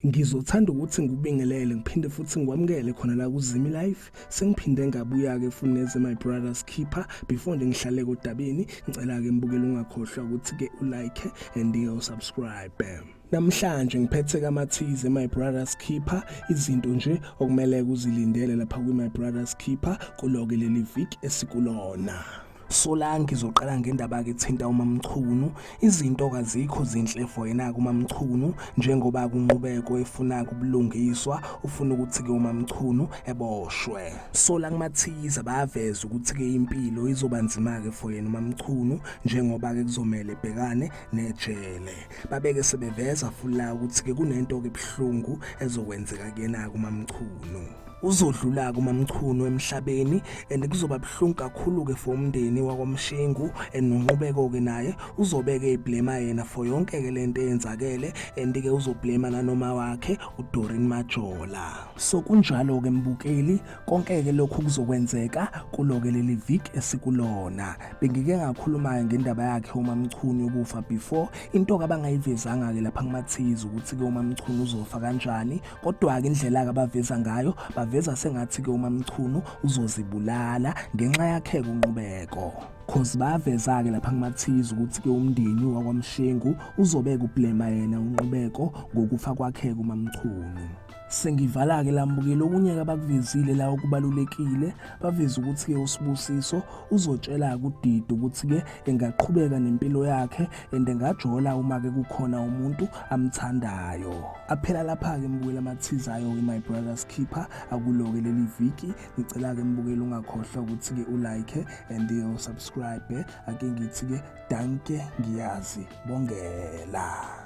Ngizothanda ukuthi ngikubingelele ngiphinde futhi ngikwamukele khona la kuZimi Life sengiphinde ngabuya ke futhi neze my brothers keeper before nje ngihlale kodabeni ngicela ke mbukele ungakhohlwa ukuthi ke u like and you subscribe bam Namhlanje ngiphethe kamathize My Brothers Keeper izinto nje okumele kuzilindele lapha kwi My Brothers Keeper kuloke leli week esikulona. Solange izoqala ngendaba ke thinta uMamchunu izinto kazikho zinhle for yena kuMamchunu njengoba kunqubeko efuna kubulungiswa ufuna ukuthi ke uMamchunu eboshwe Solange Mathiza baveza ukuthi ke impilo izoba nzima ke for yena uMamchunu njengoba ke kuzomela ebhekane nejele babeke sebeveza fulla ukuthi ke kunento ke buhlungu ezokwenzeka kuyena kuMamchunu uzodlula-ke umamchunu emhlabeni and kuzoba buhlungu kakhulu-ke for umndeni wakwamshengu and nonqubeko-ke naye uzobeke eblema yena for yonke-ke le nto eyenzakele and-ke uzoblema nanoma wakhe udorin majola so kunjalo-ke mbukeli konke-ke lokhu kuzokwenzeka kulo-ke leli vik esikulona bengike ngakhuluma-ke ngendaba yakhe umamchunu yokufa before into-ke abangayivezanga-ke lapha kumathizi ukuthi-ke umamchunu uzofa kanjani Kodwa-ke indlela-ke abaveza ngayo baveza sengathi-ke umamchunu uzozibulala ngenxa yakheke unqubeko cause baveza-ke lapha kumathiza ukuthi-ke umndeni wakwamshengu uzobeka ublema yena unqubeko ngokufa kwakheke umamchunu sengivala-ke lambukile okunye-ke abakuvezile la okubalulekile baveze ukuthi-ke usibusiso uzotshela-ke udidi ukuthi-ke engaqhubeka nempilo yakhe and ngajola uma ke kukhona umuntu amthandayo aphela lapha ke mbukela amathiza ayo my brother's keeper akuloke leli viki ngicela ke mbukela ungakhohlwa ukuthi ke ulike and you subscribe ake ngithi ke danke ngiyazi bongela